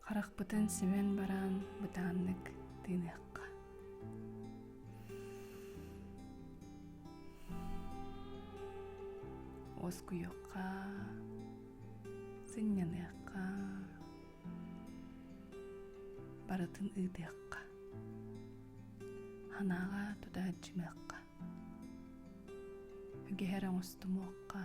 Харахпытын симэн баран бытааннык тыыныахха. Уоскуйуохха, сынньаныахха, барытын ыытыахха. Санааҕа тутааччымыахха. Үгэһэр оҥостумуохха.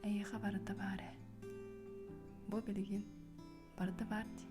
Эйиэхэ барыта баар ээ. Бу билигин барыта баар дии.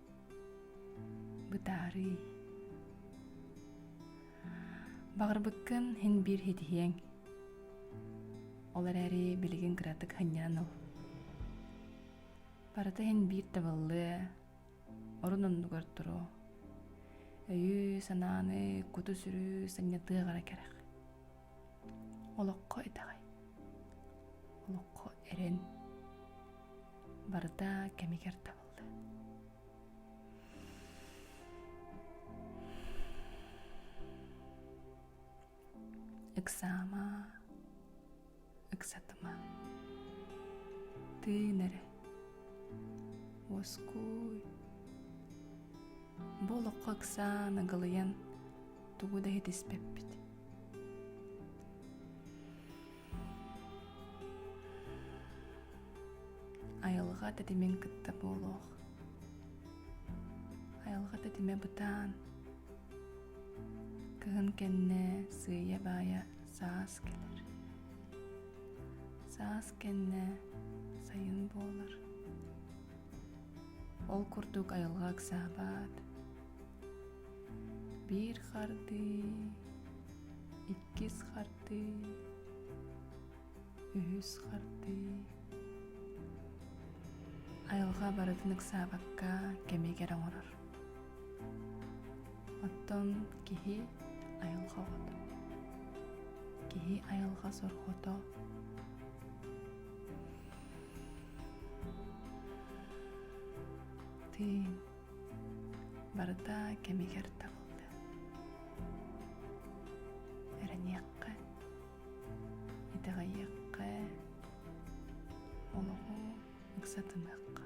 бытаарый баҕарбыккын һин биир хитиһиэҥ ол эрээри билигин кыратык ханньаан ыл барыта һин биир табыллыа орун оннугар туруо өйү-санааны куту-сүрү санньатыаҕара кэрэх олоххо итэҕэй олоххо эрэн барыта кэмигэр табыл ыксаама ыксатыма тыын эрэ уоскуй бу олоххо ыксаан ыгылыйан тугу да иһитиспэппит Айылҕа тэтимин кытта буолуох. Айылҕа тэтимэ бытаан. Кыһын кэннэ сыыйа-баайа саас кэлэр. Саас кэннэ сайын буолар. Ол курдук айылҕа ыксаабат, Биир хардыы, иккис хардыы, үһүс хардыы. Айылҕа барытын ыксаабакка кэмигэр оҥорор. Оттон киһи айылҕа оҕото. Киһи айылҕа сорҕото. Тыын барыта кэмигэр табылды эрэниэххэ итэҕэйиэххэ олоҕу ыксатымыахха